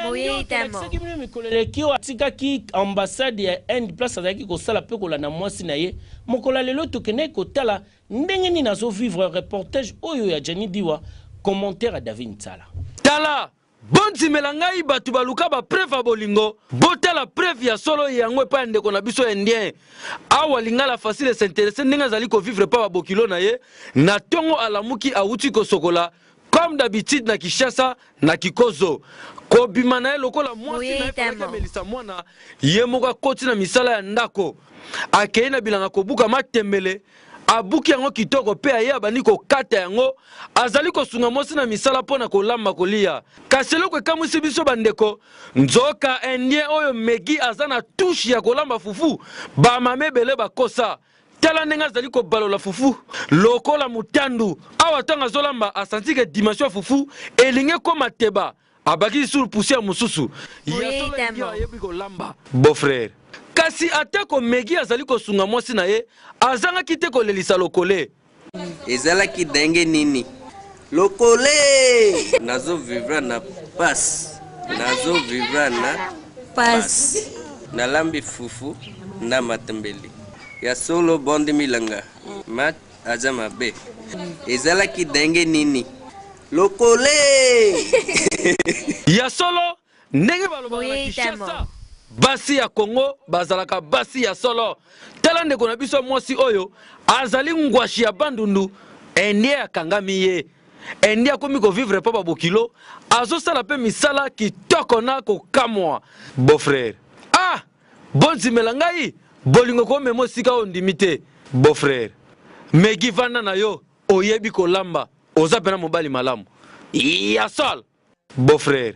Boyeyi te mo. Tolakisaki bino mikolo eleki oyo atikaki ambassade ya Inde place azalaki kosala mpe kolanda mwasi na ye. Mokolo ya lelo tokendaki kotala ndenge nini azo vivre reportage oyo ya Djani Diwa, commentaire ya David Nsala. Tala, Bondimela ngai bato baluka ba preuves ya bolingo, botala preuve ya solo yango epai ya ndeko na biso indien awa lingala facile s'interesser ndenge azali ko vivre epai ba bokilo na ye na tongo alamuki awuti kosokola Comme d'habitude na Kinshasa na Kikozo kobima na ye lokola mwasi na ye amelisa mwana ye moko akoti na misala ya ndako akei na bilanga kobuka matembele abuki yango kitoko mpe aye abandi kokata yango azali kosunga mwasi na misala mpo na kolamba kolia kasi eloko ekamwisi biso bandeko nzoka indien oyo megi aza na tushe ya kolamba fufu bamama ebele bakosa tala ndenge azali kobalola fufu lokola motandu awa ntango azolamba asanti ke dimension ya fufu elingi ekoma teba abakisi sur poussière mosusu ya solo elingi ayebi kolamba beau-frère kasi atako megi azali kosunga mwasi na ye azangaki te kolelisa lokole Ezalaki ndenge nini? Lokole! Nazo vivra na passe. Nazo vivra na passe. Nalambi fufu na matembele. Ya solo bondi milanga. Mat aza mabe. Ezalaki ndenge nini? Lokole! Ya solo Ndenge balobaka na Kinshasa, basi ya Congo bazalaka basi ya solo. Tala ndeko na biso mwasi oyo azali ngwashi ya Bandundu, indien akangami ye. Indien akomi ko vivre epa ba Bokilo, azosala mpe misala kitoko na kokamwa. Beau frère, ah! Bondimela ngai, bolingo komema esika oyo ondimi te. Beau frère, Meggy vanda na yo, oyebi kolamba, oza pena mobali malamu. Ya solo! Beau frère.